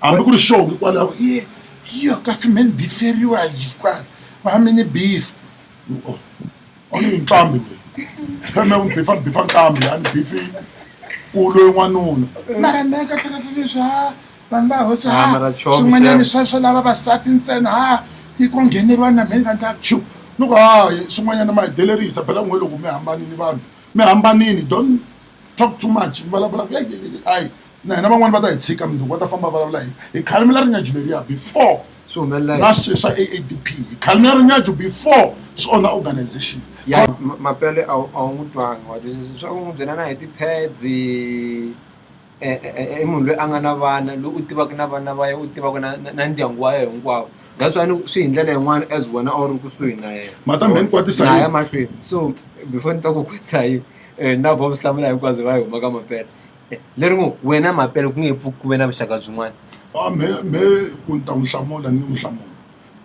hambi ku ri xongo hikwalaho i yo kasi me ni biferiwa va mi ni beef nqambi weyi pheme u ni bifa ni bifa nqambi a ni bifi ku loyi n'wanuna mara me kahlekahle leswi ha vanhu va hosi ha swin'wanyani swa swa lava vasati ntsena ha yi ko ngheneriwa na me ni vandla chu loko ha swin'wanyana ma hi delerisa bela n'we loko mi hambanini vanhu mi hambanini don't talk too much mi vulavula ku ayi na hina van'wani va ta hi tshika mundzuku va ta famba vulavula hi hi khalimela rinyaju leriya before swi humelela na swi swa aadp hi khalimela rinyaju before swi onha organization ya ma- mapele a wu a wu n'wi twanga wa twisisa leswaku n'wi byela na hi ti-pads eh, eh, eh, i munhu loyi a nga na vana loyi u tivaka na vana va yena u tivaka na na- na ndyangu wa yena hinkwavo that's why ni ku swi hi ndlela yin'wana as wena a wu ri kusuhi na yena Matambe ni kwatisa Na yini? ya mahlweni so before ni ta ku kwatisa yini um na vo swi hlamula hinkwabyo va yi humaka mapele leri ngo wena mapele ku nge pfuki ku ve na vuxaka byin'wana a me me ku ni ta n'wi hlamula ni n'wi hlamula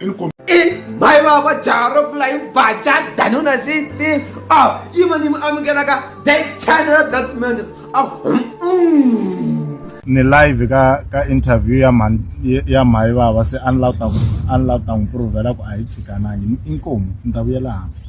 i ni kom i mhayi vava jaha ro pfula yi baca danuna sixty a yi ma ni mi amukelaka that channel that man a ni live ka ka interview ya mhani ya mhayi vava se a ni lava ta ku a ni lava ta n'wi provela ku a yi tshikanangi inkomu ni ta vuyela hansi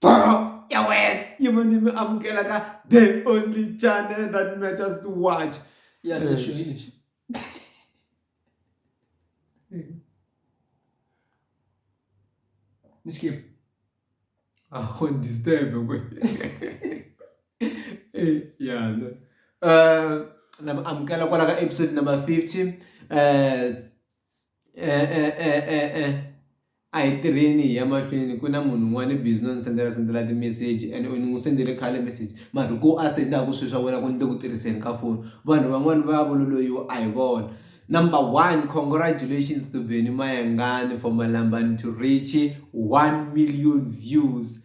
Bro, ya wena yi va ni mi amukela ka the only channel that matters to watch ya lexo hi lexi ni skip a ho disturb we eh yana eh na mi amukela kwala ka episode number 50 eh eh eh eh eh A hi tirheni hi ya mahlweni ku na munhu un'wana i busy no ni sendela sendela ti-message and ni n'wi sendele khale message mara hi ku a sendaku swi swa vona ku ni le ku tirhiseni ka foni vanhu van'wani va ya vona loyiwa a hi vona number one congratulations to Benny Mayengani for Malambani to reach one million views.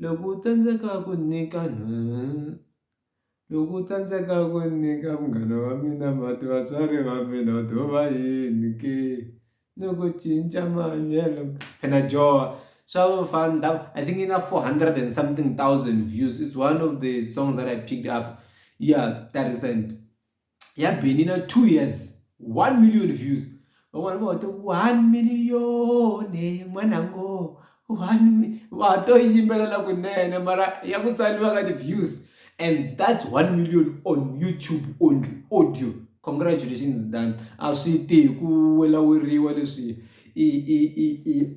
Loko u tsandzeka ku nyika loko u tsandzeka ku nyika munghana wa mina mati vatswari va mina u to va yini ke ni ku cinca mahanyelo phela joho swa vo fana ni ta ku I think yi na four hundred and something thousand views it's one of the songs that I picked up ya ta recent. ya Benny na two years one million views van'wana va hote one million n'wana ngo one va ha to yimbelela kunene mara ya ku tsaliwa ka ti-views and that's one million on youtube only audio congratulations dan a swi ti hi ku welaweriwa leswi i i i i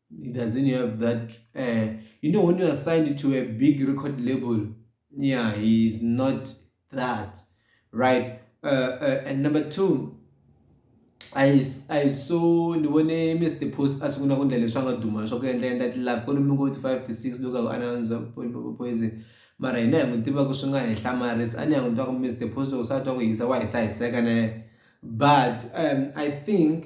it doesn't have that uh, you know when you are signed to a big record label yeah he is not that right uh, uh, and number two I, I saw ndibone mr post asifuna kundla leswi a nga duma swa ku endla endla tilab ku lomi koti five to six loko a ananza poison mara hina hi n'wi tiva ku swi nga henhla maris a ni ya n'wi twa ku mr post loko se a twa ku hisa wa hisa hiseka na yena but um, i think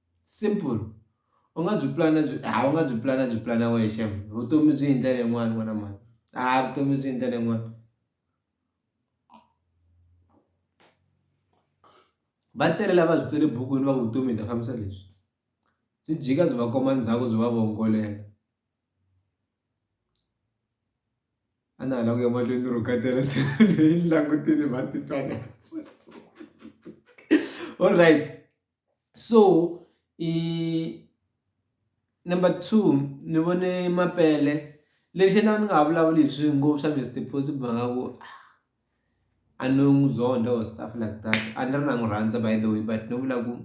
simple u nga byi pulana byi ha u nga byi pulana byi pulana wexe vutomi byi hi ndlela yin'wani n'wana mhani a vutomi byi hi ndlela yin'wani va tele lava byi tsale bukwini va vutomi hi ta fambisa leswi byi jika byi va komba ndzhaku byi va vongolela a na ha la ku ya mahlweni ni ro ka tele se ni langutile va titwa na alright. so i number two ni vone mapele lexi na ni nga ha vulavuli hi swi ngopfu swa Mister Post hi mhaka ku a ni n'wi zonda or stuff like that a ni ri na n'wi rhandza by the way but no vula ku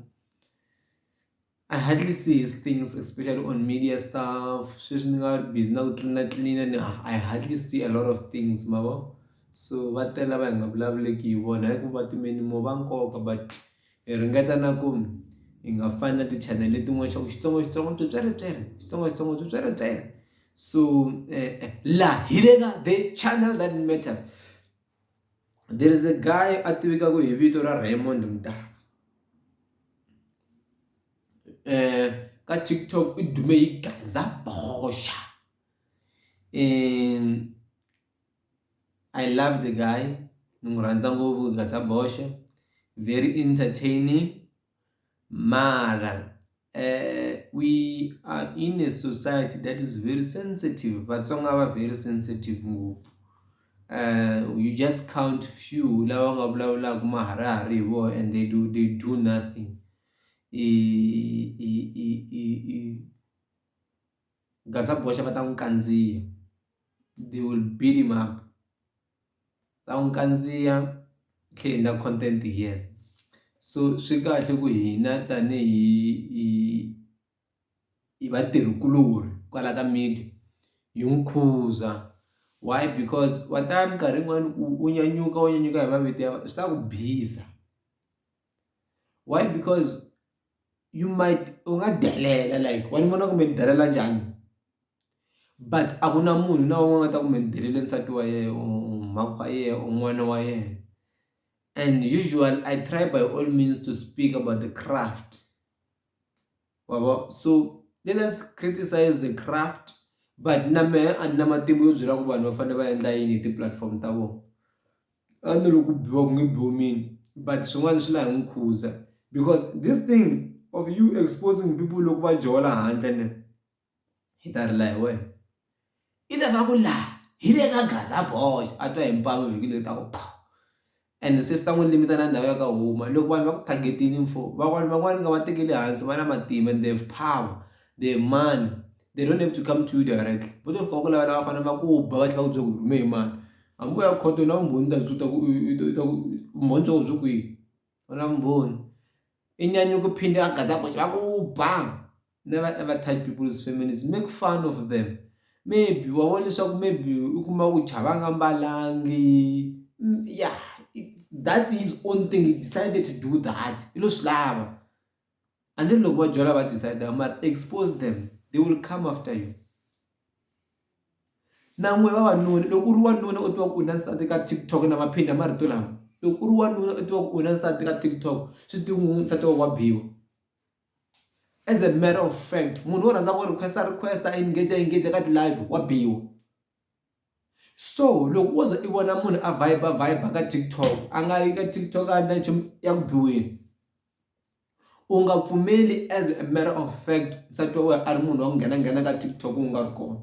I hardly see his things especially on media stuff sweswi ni nga busy na ku tlilina tlilina ni I hardly see a lot of things ma vo so va tele lava hi nga vulavuleki hi vona hi ku va timela more va nkoka but. Hi ringeta na ku hi nga fani na ti-channel letin'wana swa ku xitsongaxitsonga swipyeripyeri xitsongaxitsonga swipyeripyeri so la hi le ka the channel that matters there is a guy a tivekaka hi vito ra Raymond Mdaka ka TikTok i dume hi gaza boxa I love the guy ni n'wi rhandza ngopfu Gasa Boxe very entertaining mara um we are in a society that is very sensitive Vatsonga va very sensitive ngopfu um you just count few lava nga vulavulaka maharihari hi vona and they do they do nothing i i i i gaza boxa va ta n'wi kandziya they will beat him up va n'wi kandziya tlhe hi endla content hi yena so swi kahle ku hina tanihi hi hi vatirhi kuloni kwala ka media hi n'wi khuza why because wa ta minkarhi yin'wani u nyanyuka u nyanyuka hi mavito ya swi ta ku bisa. why because you might u nga delela like wa ni vona kumbe ni delela njhani but a ku na munhu na un'we nga ta kumbe ni delele nsati wa yena or mhaka wa yena or n'wana wa yena and usual I try by all means to speak about the craft wabo so let us criticize the craft but na mehe a ni na matimba yo byela ku vanhu va fanele va endla yini hi ti-platform ta vona. a ni ri ku biwa ku nge biwi mina but swin'wana swi la hi n'wi khuza because this thing of you exposing people loko va jola handle ne hi ta rila hi wena i ta va ku laha hi le ka gaza boy a twa hi mpamu vhiki leri ta ku pha and se swi ta n'wi limita na ndhawu ya ka huma loko vanhu va ku targetini mfo van'wani van'wani nga va tekeli hansi va na matimba and they have power they have money they don't have to come to you directly vo to fika va ku lavela va fanele va ku ba va tlhela va ku byela ku rhume hi mani A ngo ya khoto u na vumbhoni u ta byi kota ku u u ta ku vumbhoni bya koho byi kwihi u na vumbhoni i nyanyuka u phinde a gazaboxe va ku ba never ever touch people's families make fun of them maybe wa vona leswaku maybe u kuma ku chava a nga mbalangi ya that his own thing he decided to do that i lo swi lava a ni ri loko va byela va decide ma expose them they will come after you na n'we vavanuna loko u ri wanuna u tiva ku u na nsati ka TikTok na ma phinda marito lama loko u ri wanuna u tiva ku u na nsati ka TikTok swi tiva ku nsati wa wa biwa as a matter of fact munhu wo rhandza ku request request engage engage ka ti-live wa biwa. So loko wo ze i vona munhu a vibe vibe ka TikTok a nga yi ka TikTok a endla nchumu ya ku biweni u nga pfumeli as a matter of fact nsati wa wena a ri munhu wa ku nghena nghena ka TikTok u nga ri kona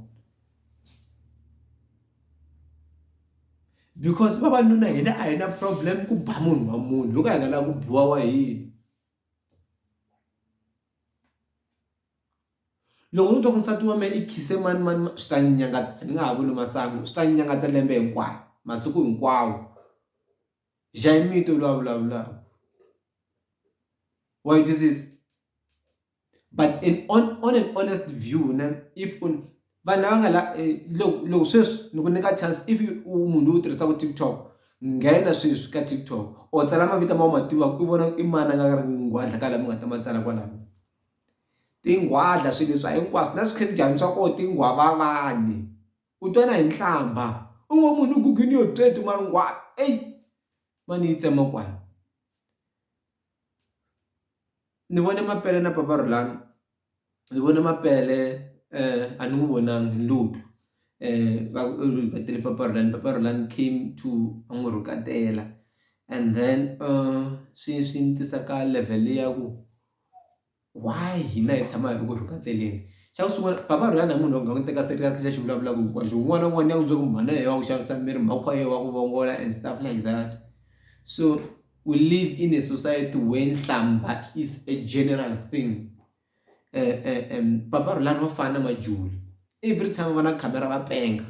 because vavanuna hina a hi na problem ku ba munhu wa munhu yo ka hi nga lava ku biwa wa hina. Loko no twa ku nsati wa mehe ni khise mani mani mani swi ta ni nyangatsa ni nga ha vuli masangu swi ta ni nyangatsa lembe hinkwaro masiku hinkwawo Jayimiti u lwa a vulavulaka wa yi twisisa but an on on an honest view ne if u vanhu lava nga la loko loko sweswi ni ku nyika chance if u munhu loyi u tirhisaka TikTok nghena sweswi ka TikTok or tsala mavito ma wu ma tivaka u vona i mani a nga nghwadla ka lama nga ta ma tsala kwalano. Tinghwadla, swilo leswa hinkwaswo na swikhemidyani swa koho tinghwavavani. U twa na hi nhlambha. U ngo munhu u gugini yo tswetu mara nghwava eyi ma ni yi tsema kwala. Ni vone mapele na papa Rhulani ni vone mapele a ni n'wi vonangi ni lo twa va ku i rivele papa Rhulani, papa Rhulani came to a n'wi rhuketela and then swi swi ni tisa ka level ya ku. why hina hi tshama hi ri ku ri kateleni xa ku sungula papa Rihanna hi munhu loyi nga n'wi teka serious lexi a xi vulavulaka hinkwaxo un'wana na un'wana ya n'wi byela ku mhana yehe wa ku xavisa miri mhakwa yehe wa ku vongola and stuff like that so we live in a society where nhlamba is a general thing um um um papa Rhulani wa fana na Majuli every time va na khamera va penga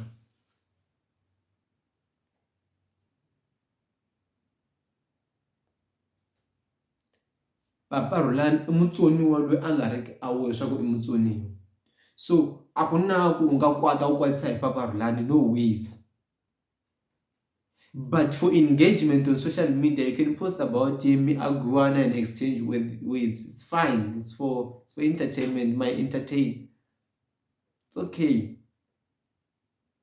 Papa Rhulani i mutsoniwa loyi a nga riki aware leswaku i mutsoniwa so a ku na ku u nga kwata u kwatisa hi Papa Rhulani no ways but for engagement on social media you can post about him mi agiwana and exchange with words it's fine it's for it's for entertainment ma entertain it's okay.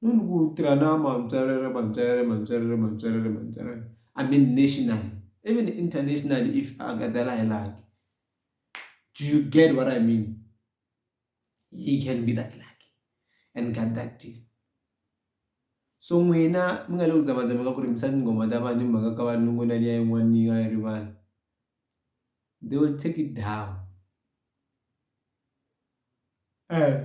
Munhu ku tirha na mantswalelo mantswalelo mantswalelo mantswalelo mantswalelo I mean national even international if a nga ta la hi laha do you get what I mean he can be that lucky and get that deal so n'wina mi nga le ku zamazameni ka ku rimisa tinghoma ta vanhu hi mhaka ka valungu na liya yin'wana yi nga yi rivala. They will take it down. Uh,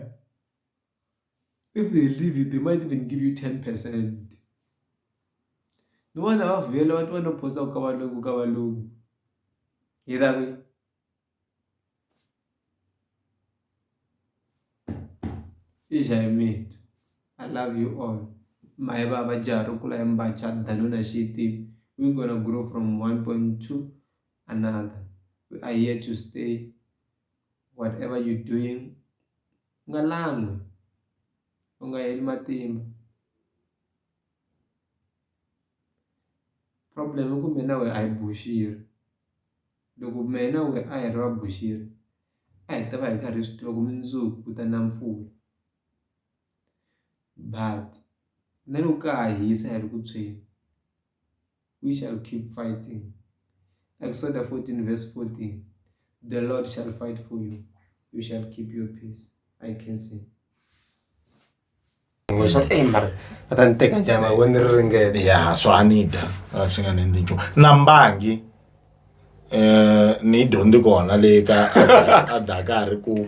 if they leave it, they might even give you 10%. ndivona vavuyela vati vanophosa ku ka valungu ka valungu hi ravi i jaimit i love you all maye va va jaha ro kula hi mbacha danona xitivi we gonna grow from 1.2 another we are here to stay whatever you doing u nga langwi u nga heli matimba problem i ku mina we a hi buxiri loko mina we a hi ri va buxiri a hi ta va hi karhi hi swi tiva ku mundzuku ku ta na mpfula but na loko ka ha hisa hi ri ku tshweni. We shall keep fighting. Exodus 14 verse 14. The Lord shall fight for you. You shall keep your peace. I can see. ya so a ni dya a swi nga ni endli nchumu na mbangi um ni yi dyondzi kona le ka a dakari ku